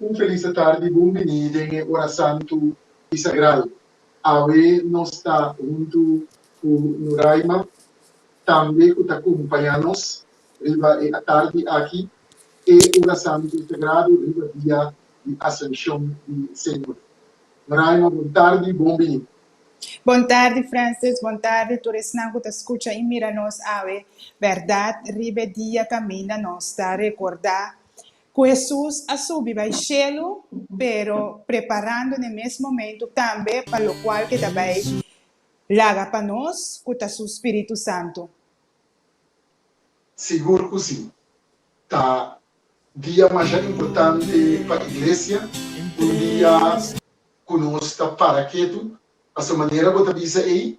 Un felis de tardi bon bini den e ora santu i sagral. Awe nos ta huntu ku Nuraima tambe ku ta kumpañá nos riba e atardi aki, e ora santu sagradu riba dia di Asunshon di Señor. Nuraima bon tardi, bon bini. Bon tardi Frances, bon tardi tur esnan ku ta skucha i mira nos awe. Bèrdat, riba e dia kaminda nos ta rekordá Ku Hesus a subi bai shelu, pero preparando n'e mes momentu tambe pa lokual ke ta bai laga pa nos, ku ta su Spiritu Santu. Sigur ku sí! Ta dia masha importante pa Iglesia, un dia ku nos ta para ketu, pasobra manera bo ta bisa ei,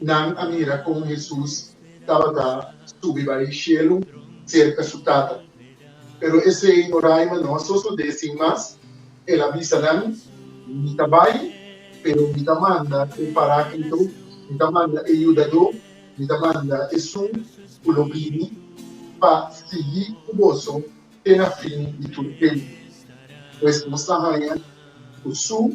Nan a mira kon Hesus tabata subi bai shelu serka su Tata. Pero esei no raima no a sosodé sin mas. El a bisa nan, Mi ta bai, pero mi ta manda e Paráklito, mi ta manda e Yudadó, mi ta manda esun ku lo bini pa sigui ku boso te na fin di tur tempu. Pues nos ta haña ku su.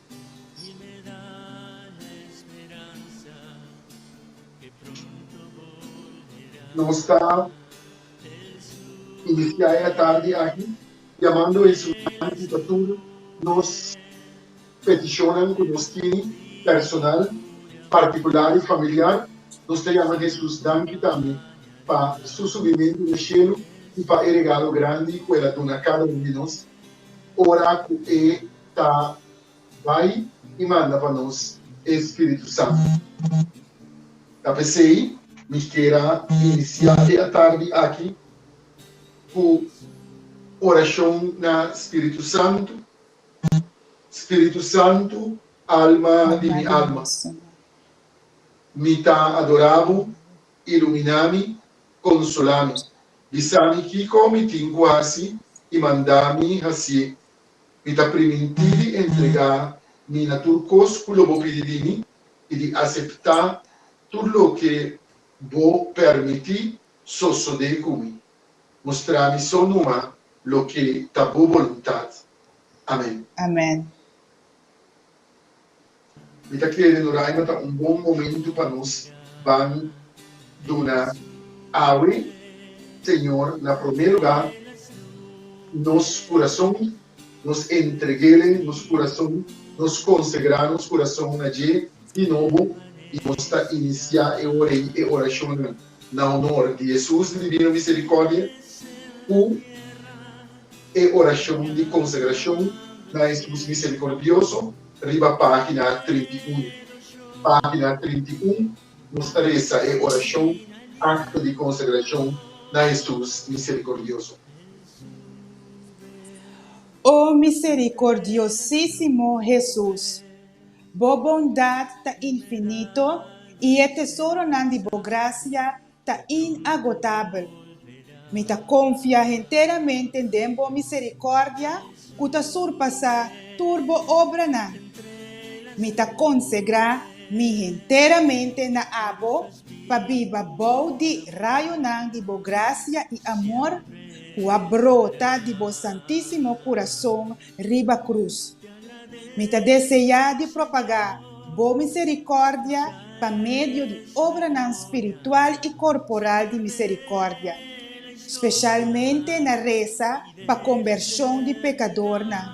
Y me da la esperanza que pronto volverá. Nos ta inicia e atardi aki yamando e esumani di ta tur nos peticionnan cu nos tini personal, particular y familiar. Nos ta yama Jesus danki tambe pa su subimento na cielo y pa e regalo grandi cu el a duna cada un di nos ora cu e ta bai i manda pa nos e Spiritu Santu. Ta pesei mister a inisiá e atardi aki ku orashon na Spiritu Santu, Spiritu Santu, alma di mi alma, mi ta adorá Bo, iluminá mi, konsolá mi, bisá mi kiko mi tin ku hasi i mandá mi hasié. Mi ta primintí di entregá mi na tur kos ku lo bo pidi di mi i di aseptá tur loke bo pèrmití sosodé ku mi. Mustrá mi so numa loke ta bo boluntat. Amèn. Amèn. Mi ta kere no raima ta un bon momento pa nos ban duna awe Señor na prome luga nos curason, nos entregele nos curason, nos consegra nos curason na dje di nobo y nos ta inicia e ora y e oracionnan na honor di Jesus di divino misericordia cu e oracion di consegracion na Jesus misericordioso. riba página trinta i unu. Página trinta i un nos ta resa e orashon Acto di Consagracion na Hesus Misericordioso. O misericordiosísimo Hesus, Bo bondad ta infinito i e tesoronan di Bo gracia ta inagotabel. Mi ta konfia henteramente den bo miserikòrdia ku ta surpasá tur bo obranan. Mi ta konsegrá mi henteramente na abo pa biba bou di rayonan di bo grasia i amor ku a brota di bo santísimo kurason riba cruz. Mi ta deseá di propagá Bo misericòrdia pa medio di obranan spiritual i corporal di misericòrdia, specialmente na resa pa combershon di pecadornan,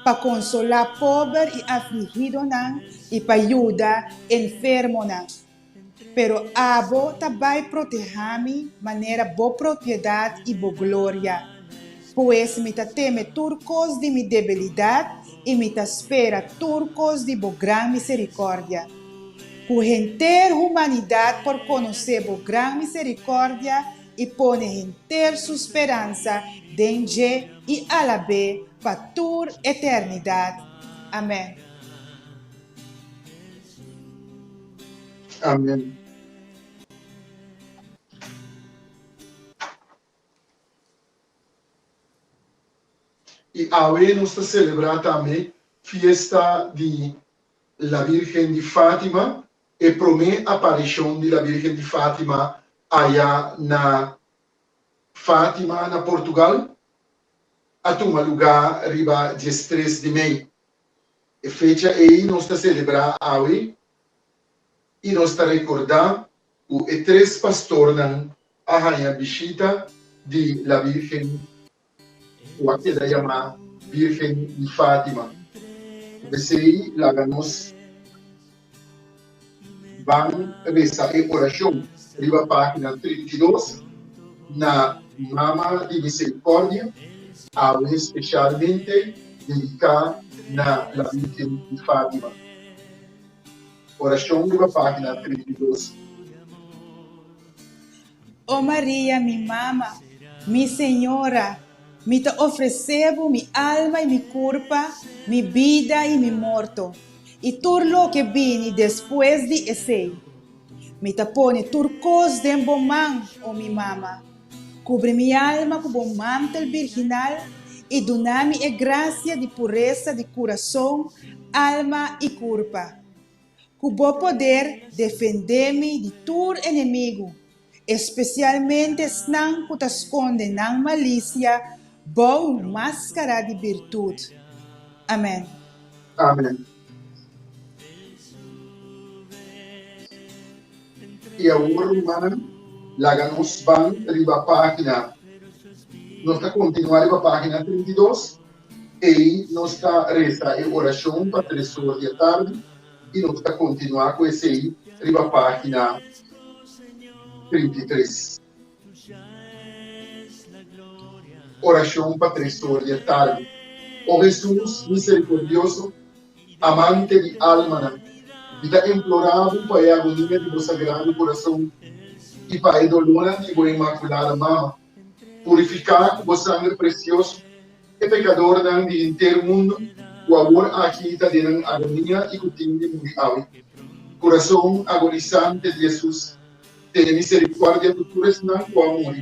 pa consolá pober i afligidonan i pa yuda enfermonan. Pero abo ta bai protehá mi manera bo propiedat i bo gloria. Pues mi ta teme tur kos di mi debilidat i mi ta spera tur kos di bo gran miserikòrdia. Ku henter humanidat por konosé bo gran miserikòrdia i pone henter su speransa den dje i alab'é pa tur eternidat. Amèn. Amen. I awe nos ta selebrá tambe fiesta di La Virgen di Fátima, e promé aparishon di La Virgen di Fátima aya na Fátima, na Portugal, a tuma lugá riba diestres di mei. E fecha ei nos ta selebrá awe i nos ta rekordá ku e tres pastornan a haña bishita di La Bírgen ku a keda yamá Bírgen di Fátima. Ku esei laga nos. Ban resa e orashon riba página trinta i dos na Mama di Miserikòrdia, awe spesialmente dediká na La Virgen di Fátima. Orashon riba página trinta i dos. O Maria, mi mama, mi Señora, mi ta ofresé Bo mi alma i mi kurpa, mi bida i mi morto, i tur loke bini despues di esei. Mi ta pone tur kos den Bo man, o mi mama. Kubri mi alma ku Bo mantel birginal i duna mi e grasia di puresa di kurason, alma i kurpa. ku bo poder defendé mi di tur enemigu, espesialmente esnan ku ta skonde nan malisia bou un máskara di birtut. Amèn. Amèn. I awor, rumannan, laga nos ban riba página. Nos ta kontinuá riba página trinta i dos. Ei nos ta resa e orashon pa tres or di atardi i nos ta kontinuá ku esei riba página trinta i tres. Orashon pa tres or di atardi. O Hesus miserikordioso, Amante di almanan, mi ta implorá Bo pa e agonia di Bo sagrado kurason i pa e dolónan di Bo Inmakulada Mama. Purifiká ku bo sanger presioso e pekadornan di henter mundu ku awor aki ta den nan agonia i ku tin di muri awe. Kurason agonisante di Hesus tene miserikuardia ku tur esnan ku a muri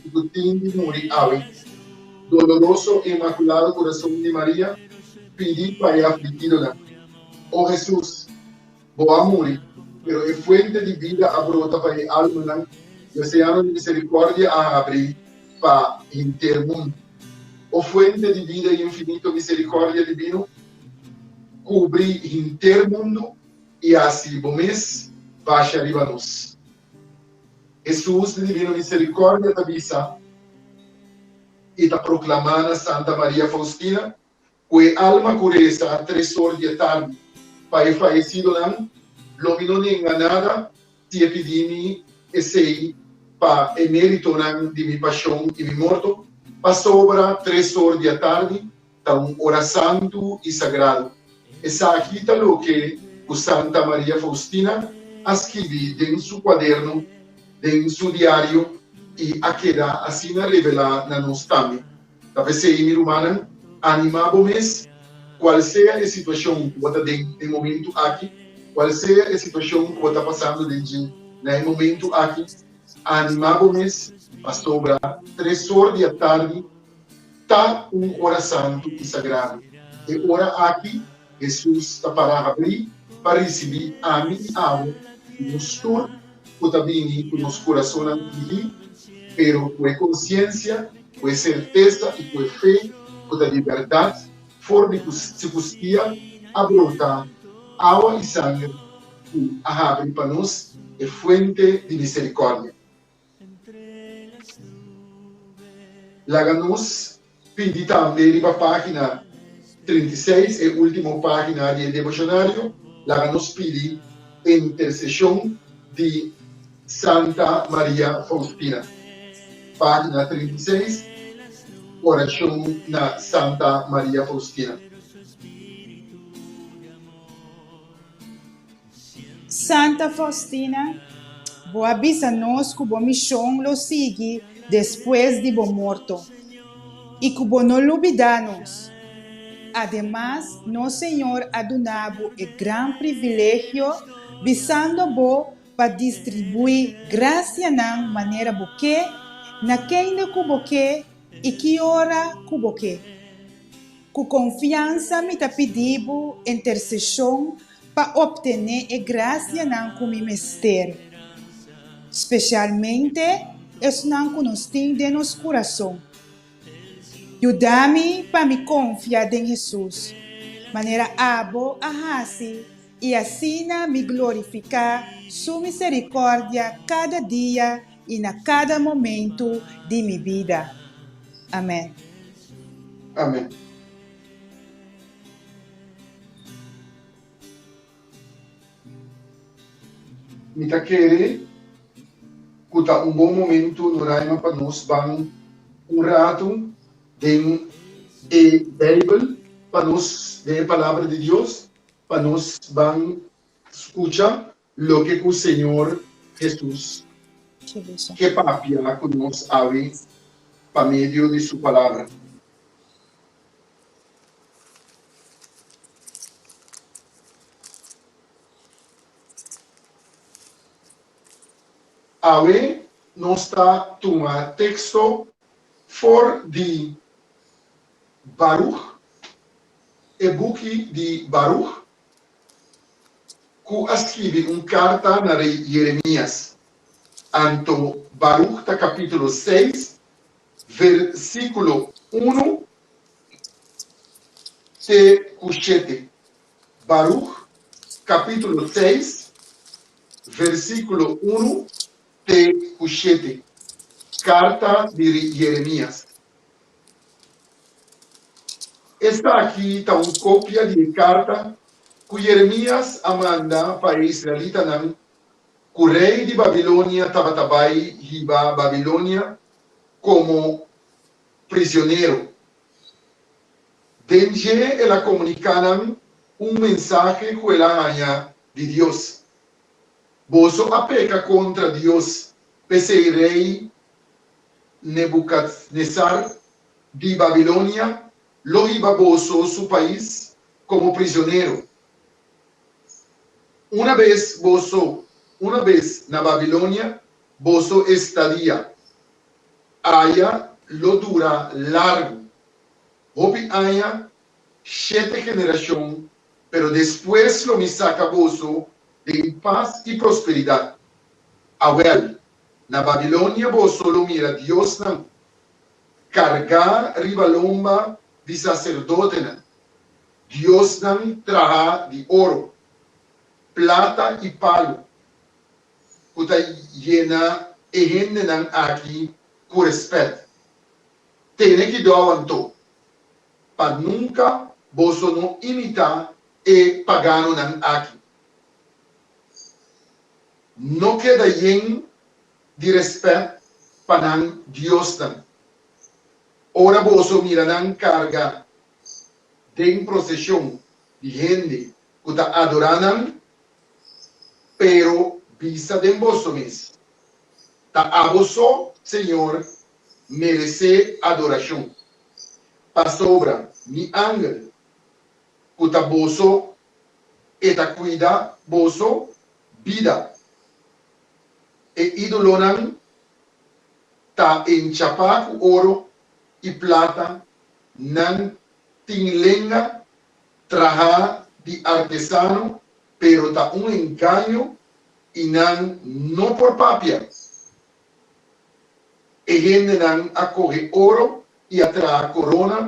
i ku tin di muri awe. Doloroso i inmakulado kurason di Maria pidi pa e afligidonan, O Hesus! Bo a muri, pero e fuente di bida a brota pa e almanan, i oseano di miserikòrdia a habri pa henter mundu. O fuente di bida infinito, miserikòrdia divino kubri henter mundu i hasi bo mes basha riba nos. Hesus di divino miserikòrdia ta bisa i ta proklamá na Santa Maria Faustina Ku e alma ku resa a tresor di e tarn pa e fayesidonan, lo mi no nenga nada si e pidi mi esei pa e meritonan di mi pashon i mi morto, pasobra tresor di atardi ta un ora santu i sagradu. Esaki ta loke ku Santa Maria Faustina a skibi den su kuaderno, den su diario, i a keda asina rebelá na nos tambe. Ta p'esei, mi rumannan, animá bo mes, kual sea e situashon ku bo ta den e momentu aki, kual sea e situashon ku bo ta pasando den dje na e momentu aki, animá bo mes, pasobra tres or di atardi ta un ora santu i sagradu. E ora aki, Hesus ta para habrí pa risibí ami i abo i nos tur ku ta bini ku nos kurasonnan hihí, pero ku e konsiensia, ku e sertesa i ku e fe ku ta di bèrdat for di ku si kustia a brota awa i sanger ku a habri pa nos e fuente di miserikòrdia. Laga nos pidi tambe riba página trinta i seis, e último página di e devoshonario, laga nos pidi e interseshon di Santa Maria Faustina. Página trinta i seis, Orashon na Santa Maria Faustina. Santa Faustina, bo a bisa nos cu bo mision lo sigui despues di bo morto y cu bo no lubida nos. Ademas, nos Señor a duna bo e gran privilegio bisando bo pa distribui gracianan manera bo ke, na kende cu bo ke y ki ora cu bo ke. Cu confiansa mi ta pidi bo intercesion Pa optené e grasianan ku mi mester, spesialmente esnan ku nos tin den nos kurason. Yuda mi pa mi konfia den Hesus, manera abo a hasi, i asina mi glorifiká Su miserikòrdia kada dia i na kada momentu di mi bida. Amèn. Amèn. Mi ta kere ku ta un bon momentu Noraima pa nos ban un ratu den e Beibel pa nos, den e Palabra di Dios, pa nos ban skucha Loke ku Señor Hesus ke papia ku nos awe pa medio di su Palabra? Awe nos ta tuma teksto for di Baruch, e buki di Baruch. ku a skibi un karta na rei Yeremias. Anto Baruk ta kapítulo seis, versíkulo unu te ku shete. Baruk kapítulo seis, versíkulo unu te ku shete, karta di rei Yeremias. Esaki ta un kopia di e karta ku Yeremías a manda pa e israelitanan ku rei di Babilonia tabata bai hiba Babilonia komo prisionero. Den dje el a komuniká nan un mensahe ku el a haña di Dios, Boso a peka kontra Dios, p'esei rei Nebukadnesar di Babilonia lo hiba boso su pais komo prisionero. Una bes boso una bes na Babilonia, boso estadia aya lo dura largu, hopi aña, shete generashon, pero despues lo mi saka boso den pas i prosperidat. Awèl. Na Babilonia boso lo mira diosnan kargá riba lomba di saserdotenan, diosnan trahá di oro, plata i palu, ku ta yena e hendenan aki ku rèspèt. Tene kidau anto, pa nunka boso no imitá e paganonan aki. no keda yen di rèspèt pa nan diosnan. Ora boso mira nan karga den proseshon di hende ku ta adorá nan, pero bisa den boso mes, Ta abo so, Señor, meresé adorashon, pasobra mi angel ku ta boso E ta cuida boso bida. E ídolonan ta enchapá cu oro i plata, nan tin lenga trahá di artesano, pero ta un engaño i nan no por papia E hendenan a kohe oro i a traha korona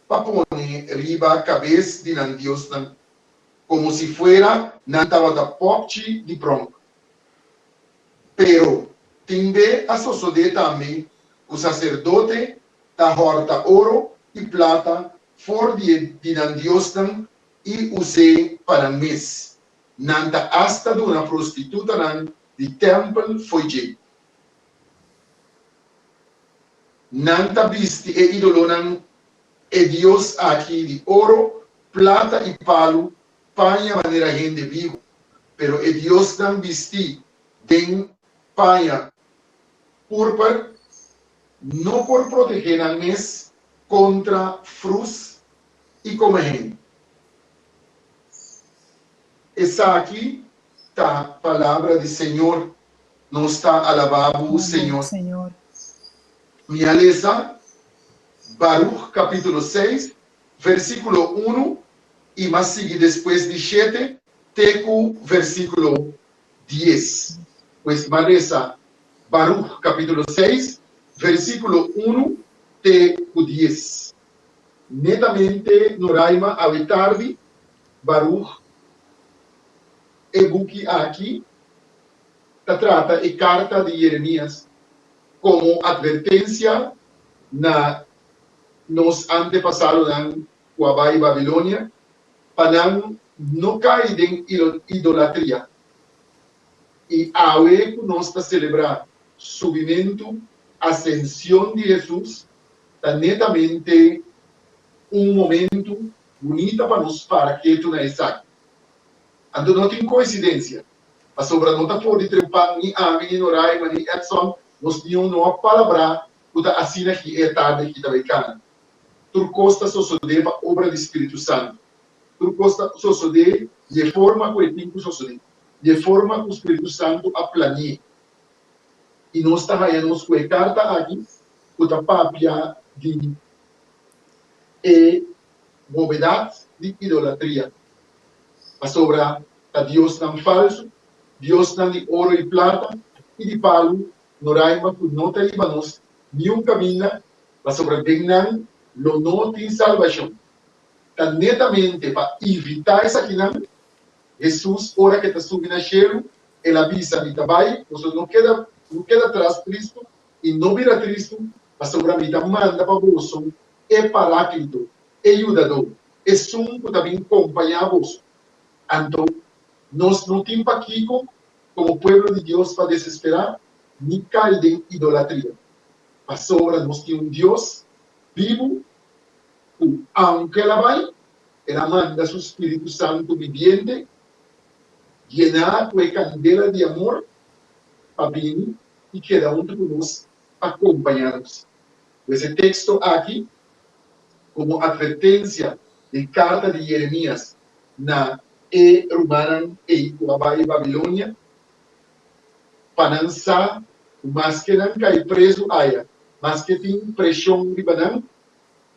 pa pone riba kabes di nan diosnan, komo si fuera nan tabata pòkchi di pronk. Pero, tin be a sosodé tambe ku saserdote ta hòrta oro i plata for di e di nan diosnan i us'é pa nan mes. Nan ta asta duna prostitutanan di tèmpel fo'i dje. Nan ta bisti e idolonan, e dios aki di oro, plata i palu paña manera hende bibu, pero e diosnan bistí den paña púrper no por protegé nan mes kontra frus i komo hende. Esaki ta palabra di Señor, Nos ta alabá Bo, Señor. Mi a lesa Barúg kapítulo seis, versíkulo unu i m'a sigui despues di shete te ku versíkulo dies. Pues m'a resa Barúg kapítulo seis, versíkulo unu te ku dies. Netamente no raima awe tardi, Baruch. E buki aki ta trata e karta di Jeremias komo atvertensia na nos antepasadonan ku a bai Babilonia pa nan no kai den idolatria. I awe ku nos ta selebrá subimentu, asension, di Hesus, ta netamente un momentu bunita pa nos para ketu na esaki. Anto no tin koinsidensia, pasobra no ta for di trempan ni ami, ni Noraima, ni Edson, nos niun no a palabrá ku ta asina ki e tarde ki ta bai kana. Tur kos ta sosodé pa obra di spiritu santu. Tur kos ta sosodé di e forma ku e tin ku sosodé, di e forma ku spiritu santu a plani'é. i nos ta haña nos ku e karta aki ku ta papia di e bobedat di idolatria. Pasobra ta diosnan falsu, diosnan di oro i plata i di palu no raima ku no ta riba nos niun kaminda, pasobra den nan lo no tin salbashon. Ta netamente pa ivitá esakinan Hesus, ora ke ta subi na shelu, el a bisa, Mi ta bai, boso no keda no keda tras tristu, i no bira tristu, pasobra mi ta manda pa boso e Paráklito, e Yudadó, esun ku ta bin kompañá boso. Anto, nos no tin pa kiko komo pueblo di Dios pa desesperá ni kai den idolatria, pasobra nos tin un Dios bibu. Ku aunke el a bai, el a manda su spiritu santu bibiente yená ku e kandela di amor pa bini i keda huntu ku nos pa kompañá nos. Pues e teksto aki, komo atvertensia den karta di Yeremias na e rumannan ei ku a bai Babilonia, pa nan sa ku maske nan kai prezu aya, maske tin preshon riba nan,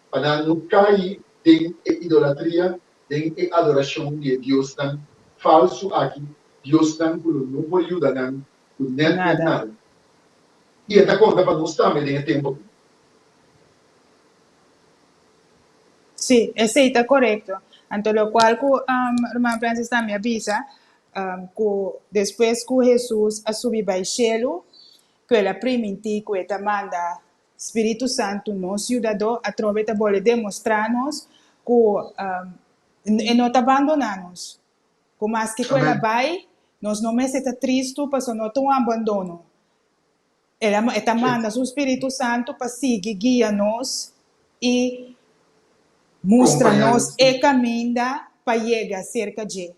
pa nan no cai den e idolatria, den e adoracion di e diosnan falsu aki, diosnan cu lo no por yuda nan cu nen den nada. I e ta conta pa nos tambe den e tempo aki. Sí, esei ta corecto. Anto locual cu Ruman Francis tambe a bisa cu despues cu Jesus a subi bai Shelu cu el a priminti cu e ta manda Spiritu Santu, nos Yudadó, atrobe ta bole demostrá nos ku e no ta bandoná nos, ku maske ku el a bai, nos no mester ta tristu pasobra no ta un abandono. El a e ta manda su Spiritu Santu pa sigui guia nos i mustra nos e kaminda pa yega serka dje.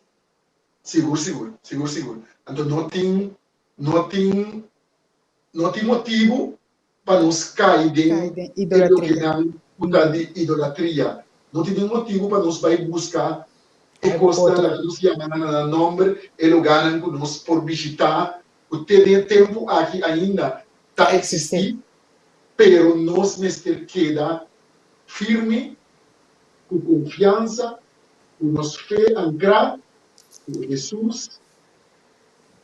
Sigur, sigur. Sigur, sigur. Anto no tin, no tin, no tin motibu pa nos kai den e lokenan ku ta di idolatria. No tin nin motibu pa nos bai buska e kosnan laga nos yama nan na nan nòmber. E lugánan ku nos por bishitá ku te den e tempu aki ainda ta eksistí, pero nos mester keda firmi ku konfiansa ku nos fe ankrá ku Hesus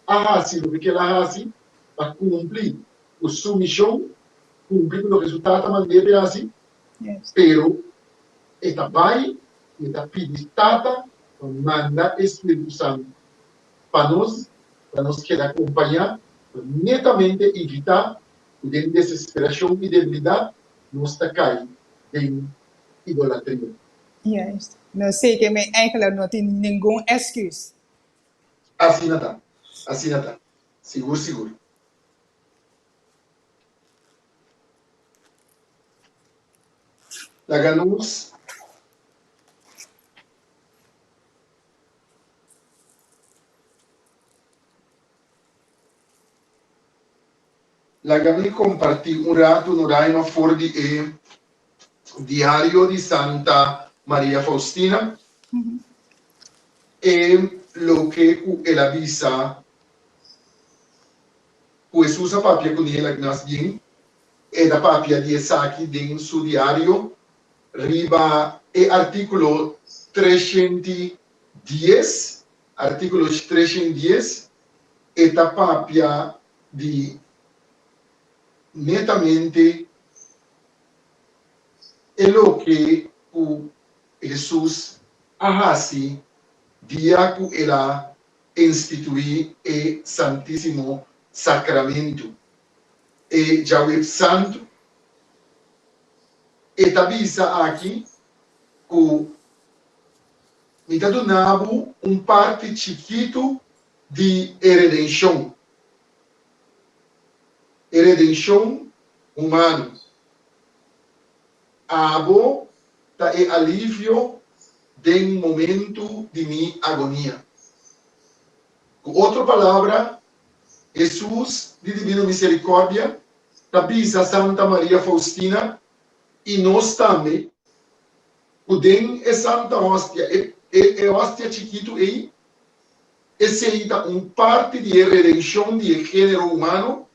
a hasi loke kel a hasi pa kumpli. Cu su mision cumpli cu loke su tata mand'e p'e haci, pero e ta bay y e ta pidi Tata pa manda e Spiritu Santu pa nos, pa nos keda compaña pa netamente evita cu den desesperacion y debilidad nos ta cay den idolatria. Juist. Nos seken men eigenlijk no tin ningun excuse. Asina ta. Asina ta. Sigur sigur. Laga nos Laga mi comparti un ratu no Raima for di e. Diario di Santa Maria Faustina, e loke ku el a bisa ku Hesus a papia kune el aki mas bien, e ta papia di esaki den su diario riba e artíkulo treshent i dies, artíkulo treshent dies, e ta papia di. Netamente e loke ku Hesus a hasi dia ku el a instituí e Santísimo Sakramentu, e Djawesantu. E ta bisa aki ku, Mi ta duna bo un parti chikitu di e redenshon. e redenshon humano. Abo ta e alivio den momentu di mi agonia. Ku otro palabra, Hesus di Divino Miserikòrdia ta bisa Santa Maria Faustina i nos tambe ku den e Santa Ostia, e ostia chikitu ei, Esei ta un parti di e redenshon di e género humano,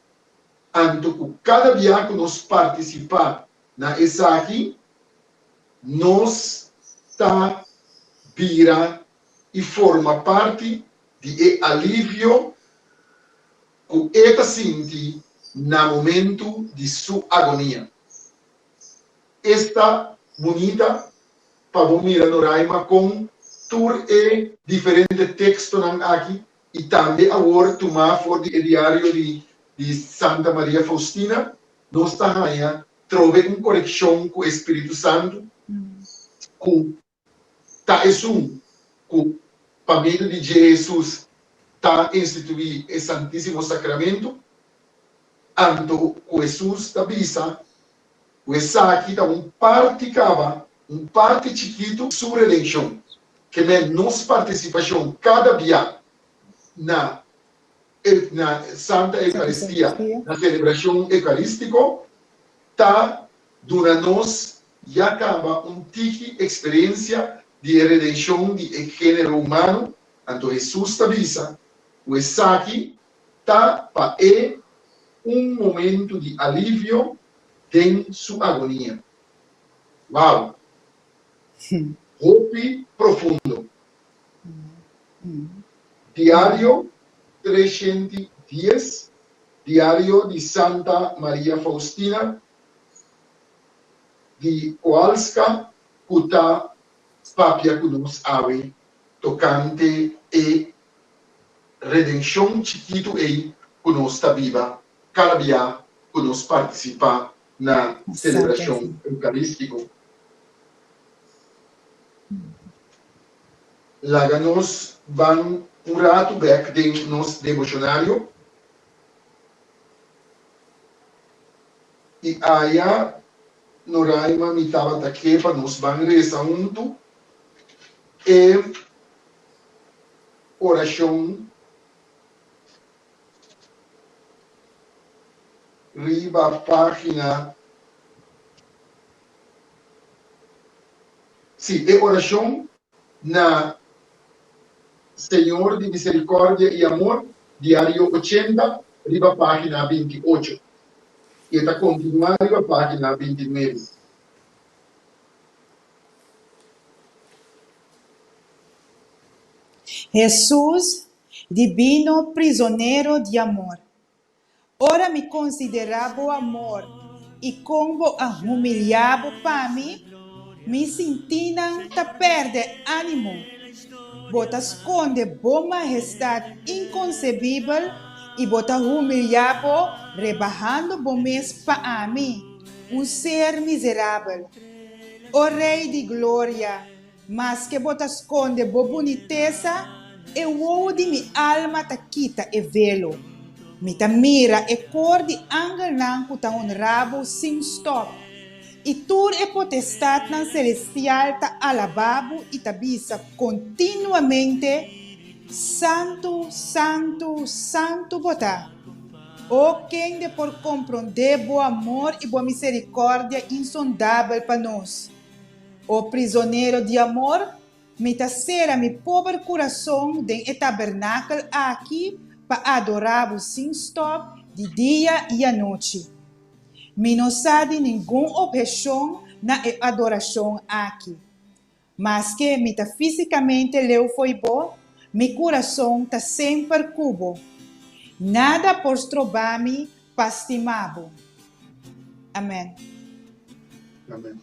anto ku kada bia ku nos partisipá na esaki, nos ta bira i forma parti di e alivio ku e ta sinti na momentu di su agonia. Esta bunita Pa bo mira Noraima kon tur e diferente tekstonan aki i tambe awor tumá for di e diario di di Santa Maria Faustina, nos ta haña trobe un konekshon ku e spiritu santu ku ta esun ku pa medio di dje Hesus ta instituí e Santísimo Sakramentu, anto ku Hesus ta bisa cu esaki ta un parti caba, un parti chikitu su redencion, kem'e nos participacion cada bia na e na Santa Eucaristia, na celebracion eucaristico, ta duna nos ya caba un tiki experiencia di e redencion di e genero humano, anto Hesus ta bisa cu esaki ta pa e un momento di alivio den su agonia. Wow! Hopi profundo. Diario treshenti dies, diario di Santa Maria Faustina di Koalska ku ta papia ku nos awe tokante e redenshon chikitu ei ku nos ta biba kada bia ku nos partisipá na selebrashon eukarístiko. Laga nos ban un ratu bèk den nos deboshonario i aya Noraima mi tabata ke pa nos ban resa huntu e orashon riba página, sí, e orashon na Señor di Misericordia i Amor, diario ochenta, riba página binti i ocho, i e ta kontinuá riba página binti i nuebe. Hesus, Dibino Prizonero di Amor, ora mi konsiderá Bo amor i kon Bo a humiliá Bo pa mi, mi sintí nan ta pèrdè ánimo. Bo ta skonde Bo mahestat inkonsebibel i Bo ta humiliá Bo rebahando Bo mes pa ami, un ser mizerabel. O Rei di Gloria, maske bo ta skonde bo bunitesa, e wowo di mi alma ta kita e velo. Mi ta mira e kor di angelnan ku ta honrá bo sin stòp, i tur e potestatnan selestial ta alabá bo i ta bisa kontinuamente, Santu, santu, santu bo ta. O kende por komprondé bo amor i bo miserikòrdia insondabel pa nos? O prizonero di amor, mi ta sera mi pober kurason den e tabernakel aki pa adorá bo sin stòp di dia i anochi. Mi no sa di ningun opheshon na e adorashon aki. Maske mi ta físikamente leu fo'i bo, mi kurason ta semper ku bo. Nada por stroba mi pa stima bo. Amèn. Amèn.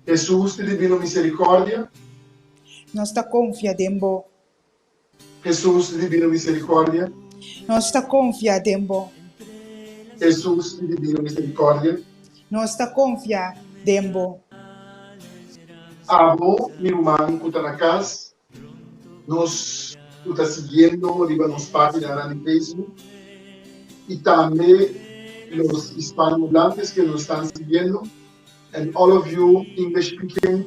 Hesus, ti di binu miserikòrdia. Nos ta konfia den bo. Hesus i dibino miserikòrdia. Nos ta konfia den bo. Hesus i dibino miserikòrdia. Nos ta konfia den bo. Abo mi ruman ku ta na kas, nos ku ta siguiendo riba nos paginanan di Facebook i tambe los hispanohablantes ke nos estan siguiendo and all of you English speaking.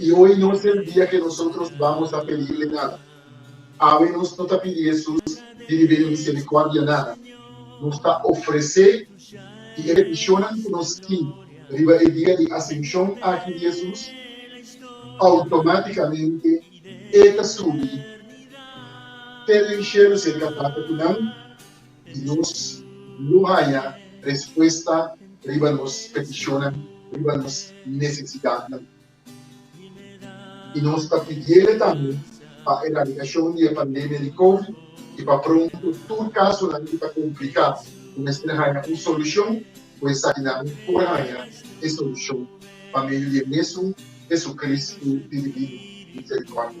I oi no es el dia ke nosotros bamos a pedirle nada. Awe nos no ta pidi Hesus di rib'e miserikòrdia nada. Nos ta ofresé i e petishonnan ku nos tin riba e dia di asenshon aki di Hesus, outomátikamente e ta subi te den shelu serka Tata ku nan. y nos lo haya respuesta riba nos peticionnan, riba nos necesidadnan. Y nos ta pidiele tambe pa eradicacion di e pandemia di Covid y pa pronto tur casonan cu ta complica cu mester haya un solucion cu esainan por haya e solucion pa medio di e mesun Jesucristo di Divino Misericordia.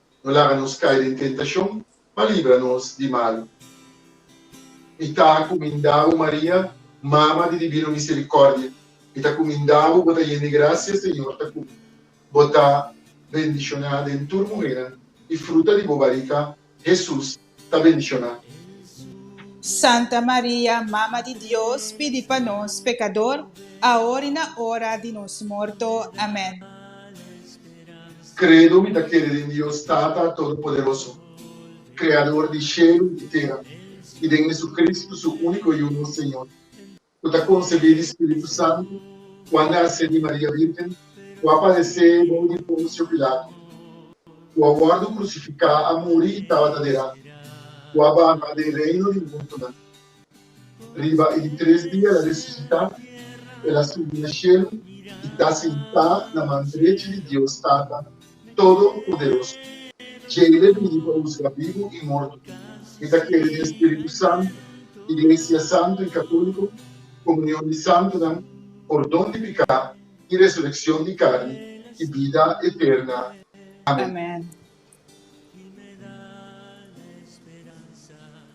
no laga nos cai den tentacion, ma libra nos di malu. Mi ta cuminda bo, Maria, mama di divino misericordia, mi ta cuminda bo, bo ta yen di gracia, Señor ta cu bo, bo ta bendiciona den tur muhernan, y fruta di bo barica, Jesús, ta mencioná. Santa Maria, Mama di Dios, pidi pa nos pekador, aor i na ora di nos morto. Amén. Credo, Mi ta kere den Dios Tata Todopoderoso, Kreador di shelu i di tera, i den Hesucristo, su úniko i uno Señor, ku ta konsebí di spiritu santu ku a nase di Maria Virgen ku a padesé bou di Ponsio Pilato ku a wòrdu krusifiká, a muri i tabata derá ku a baha den reino di mortonan. Riba e di tres dia el a resusitá, el a subi na shelu i ta sentá na man drechi di Dios Tata. Todopoderoso. Djei lo bini pa husga bibu i morto. E ta kere den spiritu santu, iglesia santu i katoliku, komunion di santunan, pordon di piká i resurekshon di karni i bida eterna. Amén.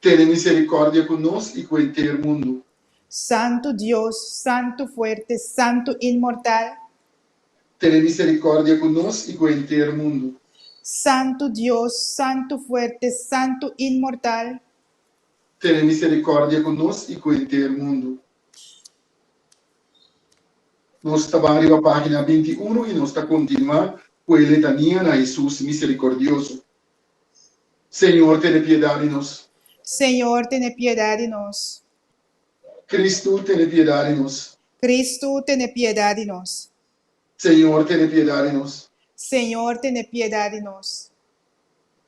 Tene misericordia cu nos y cu enter mundo. Santo Dios, Santo fuerte, Santo inmortal. Tene misericordia cu nos y cu enter mundo. Santo Dios, Santo fuerte, Santo inmortal. Tene misericordia cu nos y cu enter mundo. Nos ta ban riba pagina binti uno y nos ta continua cu e letania na Jesus misericordioso. Señor tene piedad di nos. Señor tene piedad di nos. Cristo tene piedad di nos. Cristo tene piedad di nos. Señor tene piedad di nos. Señor tene piedad di nos.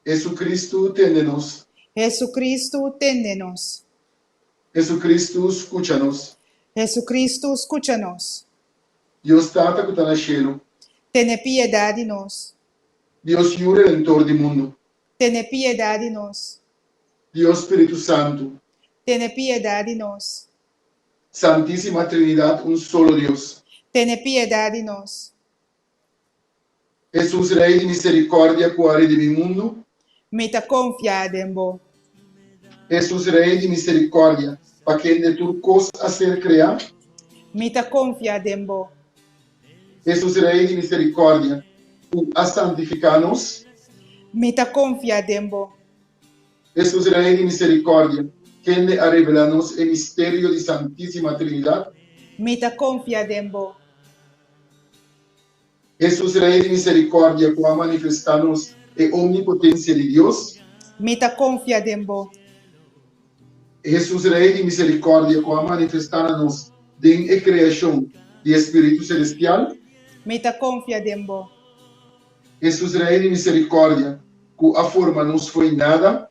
Jesucristo tende nos. Jesucristo tende nos. Jesucristo scucha nos. Jesucristo scucha nos. Dios Tata cu ta na cielo. Tene piedad di nos. Dios Yu Redentor di mundu. Tene piedad di nos. Dios Spiritu Santu. Tene piedad di nos. Santisima Trinidad un solo Dios. Tene piedad di nos. Hesus Rey di misericordia cu a redimi mundu. Mi ta konfiá den bo. Hesus Rei di miserikòrdia. Pa kende tur kos a ser kreá. Mi ta konfiá den bo. Hesus Rei di miserikòrdia. U a santifiká nos. Mi ta konfiá den bo. Hesus Rei di miserikòrdia. Kende a revelá nos e misterio di Santísima Trinidat. Mi ta konfiá den bo. Hesus, Rei di miserikòrdia ku a manifestá nos e omnipotensia di Dios. Mi ta konfia den bo. Hesus, Rei di miserikòrdia ku a manifestá na nos den e kreashon di e spiritu selestial. Mi ta konfia den bo. Hesus, Rei di miserikòrdia ku a forma nos fo'i nada.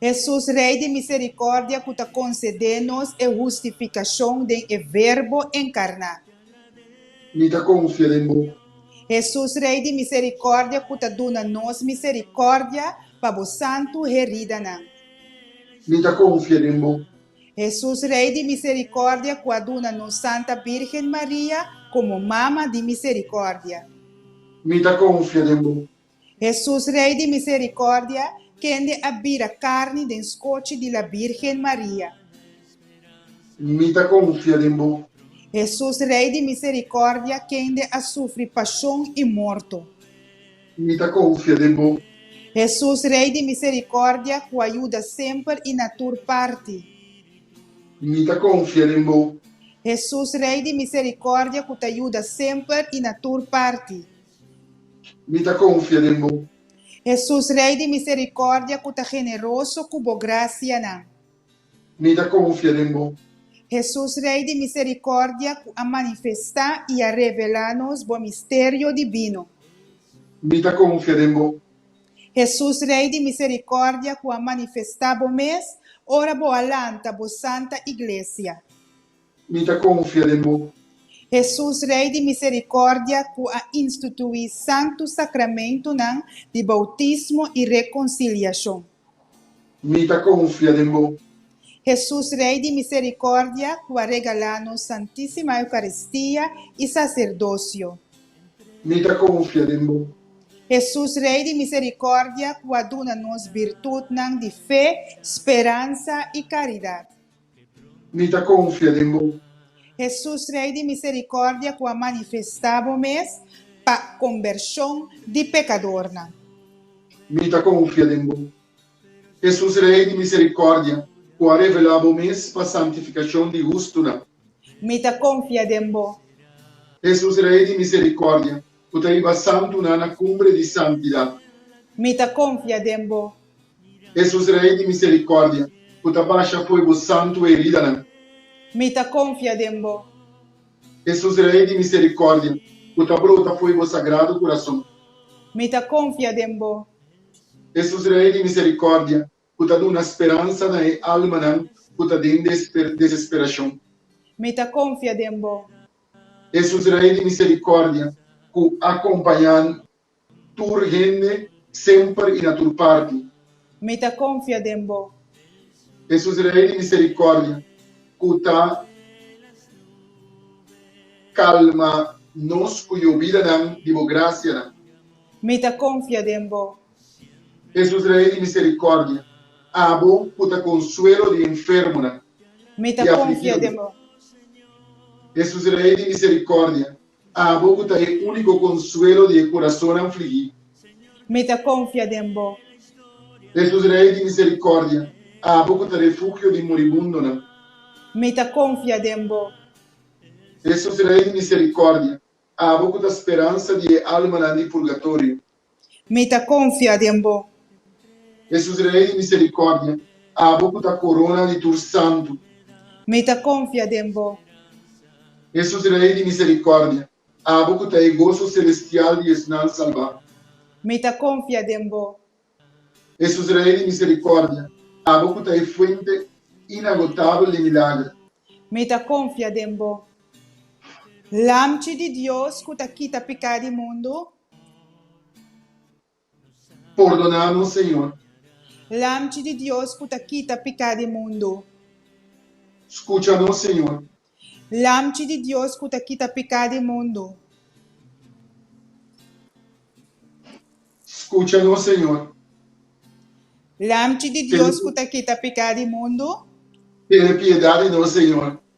Hesus, Rei di misericordia cu ta concedé nos e hustificacion den e Verbo encarná. Mi ta confia den bo. Hesus, Rei di misericordia cu ta duna nos misericordia pa bo santu heridanan. Mi ta confia den bo. Hesus, Rei di misericordia cu a duna nos Santa Virgen Maria como Mama di misericordia. Mi ta confia den bo. Hesus, Rei di misericordia, kende a bira carni den scochi di la Birgen Maria. Mi ta confia den bo. Hesus, Rei di misericordia, kende a sufri pasion y morto. Mi ta confia den bo. Hesus, Rei di misericordia, cu a yuda semper y na tur parti. Mi ta confia den bo. Hesus, Rei di misericordia, cu ta yuda semper y na tur parti. Mi ta konfia den bo. Hesus Rei di miserikordia ku ta generoso ku bo grasianan. Mi ta konfia den bo. Hesus Rei di miserikordia ku a manifestá i a revelá nos bo misterio dibino. Mi ta konfia den bo. Hesus Rei di miserikordia ku a manifestá bo mes ora bo a lanta bo santa iglesia. Mi ta konfia den bo. Hesus Rei di Miserikòrdia ku a instituí Santu Sakramentunan di boutismo i rekonsiliashon. Mi ta konfia den bo. Hesus Rei di Miserikòrdia ku a regalá nos Santísima Eukaristia i saserdosio. Mi ta konfia den bo. Hesus Rei di Miserikòrdia ku a duna nos birtutnan di fe, speransa i karidat. Mi ta konfia den bo. Hesus, Rei di Miserikòrdia ku a manifestá bo mes pa kombershon di pekadornan. Mi ta konfia den bo. Hesus, Rei di Miserikòrdia ku a revelá bo mes pa santifikashon di hustunan. Mi ta konfia den bo. Hesus, Rei di Miserikòrdia Cu ta riba santunan na cumbre di santidad. Mi ta confia den bo. Hesus Rey di misericordia. Cu ta basha fo'i bo santu heridanan. Mi ta confia den bo. Hesus Rey di misericordia. Cu ta brota fo'i bo sagrado curason. Mi ta confia den bo. Hesus Rey di misericordia. ku ta duna speransa na e almanan ku ta den desesperashon. Mi ta konfia den bo. Hesus Rei di miserikòrdia ku a kompaña'n tur hende, semper i na tur parti. Mi ta konfia den bo. Hesus Rei di miserikòrdia ku ta kalma nos ku yobidanan di bo grasianan. Mi ta konfia den bo. Jesús Rey di Misericordia, abo cu ta consuelo di enfermonan y afligidonan. Jesús Rey di Misericordia, abo cu ta e unico consuelo di e curazonnan fligi. Jesús Rey di Misericordia, abo cu ta refugio di moribundonan. Jesús Rey di Misericordia, abo cu ta speransa di e almanan di purgatorio. Mi ta konfia den bo. Hesus Rei di miserikòrdia. Abo ku ta korona di tur santu. Mi ta konfia den bo. Hesus Rei di miserikòrdia. Abo ku ta e goso selestial di esnan salbá. Mi ta konfia den bo. Hesus Rei di miserikòrdia. Abo ku ta e fuente inagotabel di milager. Mi ta konfia den bo. Lamchi di Dios ku ta kita piká di mundu. Pordona nos, Señor. Lamchi di Dios cu ta kita picá di mundo. Scucha nos, Señor. Lamchi di Dios cu ta kita picá di mundo. Scucha nos, Señor. Lamchi di Dios cu ta kita picá di mundo. Tene piedad di nos, Señor.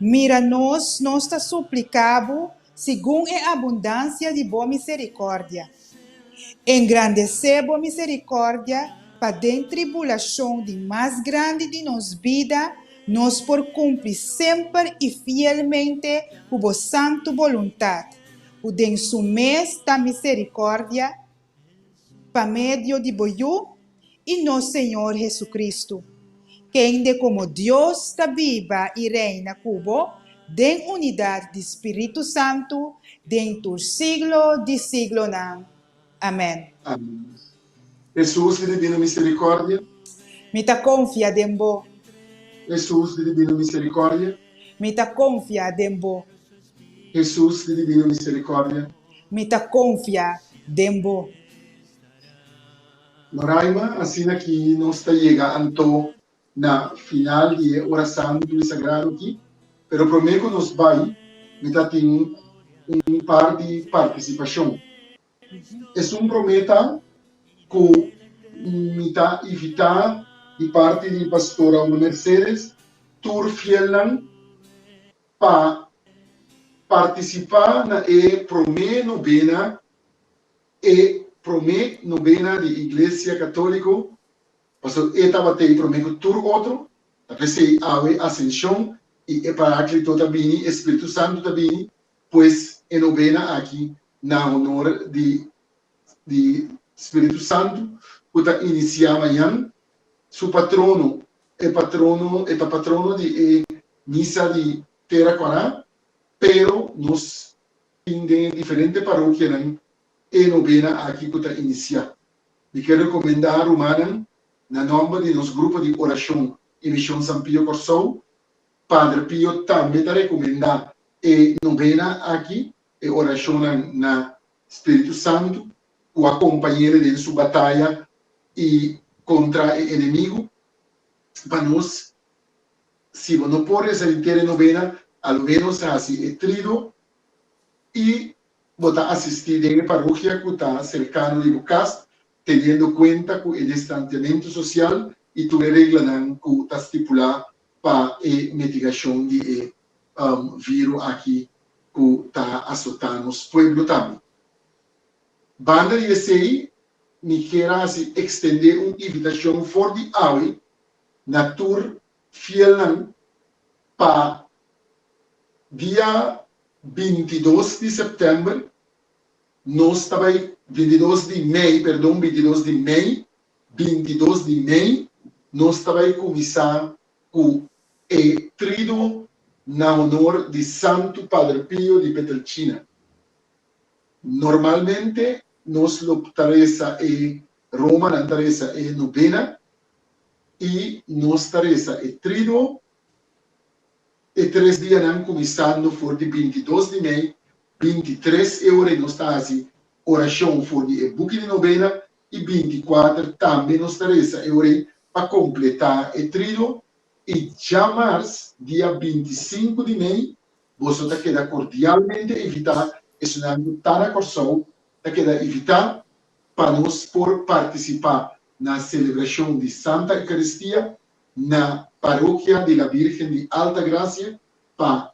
Mira nos, nos ta supliká Bo segun e abundansia di Bo miserikòrdia. Engrandesé Bo miserikòrdia pa den tribulashon di mas grandi di nos bida nos por kumpli semper i fielmente ku Bo santu boluntat, ku den Su mes ta miserikòrdia pa medio di bo Yu i nos Señor Jesucristo, kende como Dios ta biba i reina cu bo den unidad di Spiritu Santo den tur siglo di siglonan. Amen. Amen. Jesús di Divino Misericordia. Mi ta confia den bo. Jesús di Divino Misericordia. Mi ta confia den bo. Hesus di divino miserikòrdia. Mi ta konfia den bo. Noraima, Asina ki nos ta yega anto na final di e ora santu i sagrado aki. Pero promé ku nos bai, mi ta tin un par di partisipashon. Esun promé ta ku mi ta invitá di parti di Pastora Una Mercedes tur fielnan Pa partisipá na e promé nobena, e promé nobena di Iglesia Katóliko, paso e tabat'ei promé ku tur otro, ta p'esei awe Asenshon i e Paráklito ta bini, e Spiritu Santu ta bini, pues e nobena aki na honor di di Spiritu Santu ku ta inisiá mañan, su patrono E patrono e ta patrono di e misa di Tera Cuará, pero nos tin den e diferente parokianan e nobena aki cu ta inicia. Mi ke recomenda rumannan na nomber di nos grupo di oracion i Mision San Pio Corsou, Padre Pio tambe ta recomenda e nobena aki, e oracionnan na Spiritu Santu ku a kompañele den su bataya i kontra e enemigu. Pa nos, si bo no por resa di tera e nobena, alo ménos hasi e trido i bo ta asistí den e parokia ku ta serkano di bo kas, teniendo kuenta ku e distantiamentu sosial i tur e reglanan ku ta stipulá pa e mitigashon di e viru aki ku ta asotá nos pueblo tambe. Banda di esei mi ker a hasi ekstendé un invitashon for di awe na tur fielnan pa dia binti dos di sèptèmber nos ta bai, binti dos di mei, perdon, binti dos di mei, binti dos di mei, nos ta bai kuminsá ku e trido na honor di Santu Padre Pio di Pietrelcina. Normalmente nos lo ta resa e Roma, nan ta resa e Nobena i nos ta resa e Trido e tres dianan kuminsando for di binti dos di mei, binti tres e ora nos ta hasi orashon for di e buki di Nobena i binticuater tambe nos ta resa e ore pa completá e trío i djamars dia bintisinku di mei boso ta keda cordialmente invitá esunnan cu ta na Corsou ta keda invitá pa nos por participá na celebracion di Santa Eucaristia na Parokia di la Virgen di Alta Gracia pa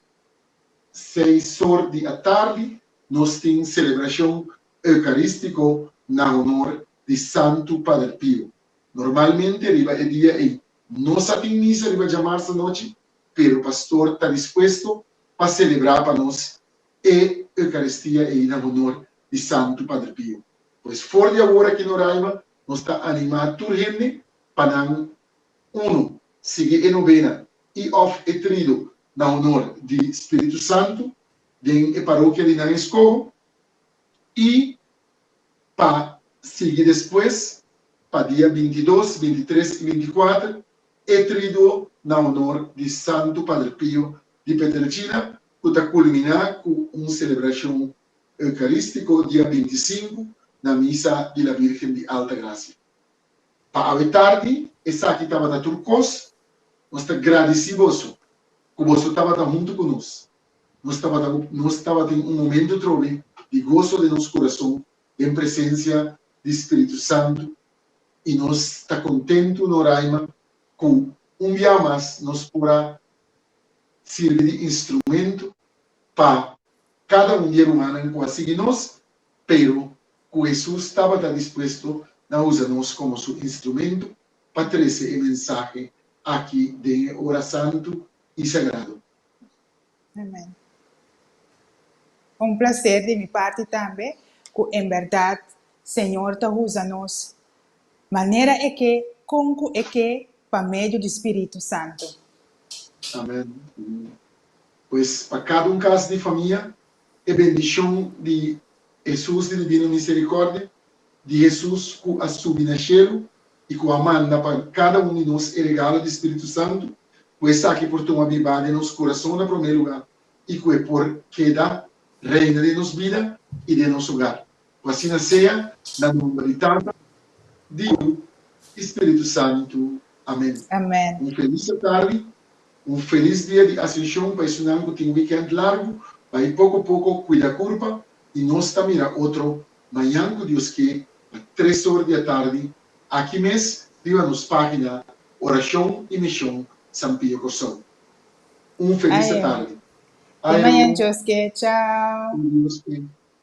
seis or di atardi nos tin celebracion eukarístiko na honor di Santu Pader Pio. Normalmente riba e dia ei nos a tin misa riba djamars anochi, pero pastor ta dispuesto pa selebrá pa nos e eukaristia ei na honor di Santu Pader Pio. Pues for di awor aki na Roraima nos ta animá tur hende pa nan, Unu, sigui e nobena i òf e trido na honor di Spiritu Santu den e parokia di nan eskoho, i pa sigui despues pa dia binti dos, binti tres i binti kuater e triduo na honor di Santu Pader Pio di Peterchina ku ta kulminá ku un selebrashon eukarístiko dia binti sinku na Misa di la Bírgen di Alta Grasia. Pa awe tardi esaki tabata tur kos. Nos ta gradisí boso ku boso tabata huntu ku nos. Nos tabata ku nos tabata den un momentu trobe di goso den nos kurason den presensia di spiritu santu i nos ta kontentu no raima ku un biaha mas nos por a sirbi di instrumentu pa kada un di e rumannan ku a sigui nos pero ku Hesus tabata dispuesto na usa nos komo su instrumentu pa trese e mensahe aki den e ora santu i sagrado. Amen. Un placer di mi parti tambe cu en berdad Señor ta usa nos manera e ke, con cu e ke pa medio di Spiritu Santo. Amen. Pues pa cada un cas di famia e bendishon di Hesus di Divino Misericordia, di Hesus cu a subi na shelu y cu a manda pa cada un di nos e regalo di Spiritu Santu, cu esaki por tuma biba den nos curason na prome lugar y cu e por keda reina den nos bida y den nos hogar. Ku asina sea, na nomber di Tata, di Yu i Spiritu Santu. Amen. Amen. Un felis atardi, un felis dia di Asenshon pa esunnan ku tin wikènt largu, bai poko poko kuida kurpa i nos ta mira otro mañan ku Dios ke pa tres or di atardi aki mes riba nos página Orashon i Mishon San Pio Kòrsou. Un felis atardi. Ayo. Di mañan Dios ke. Chao. Di Dios ke.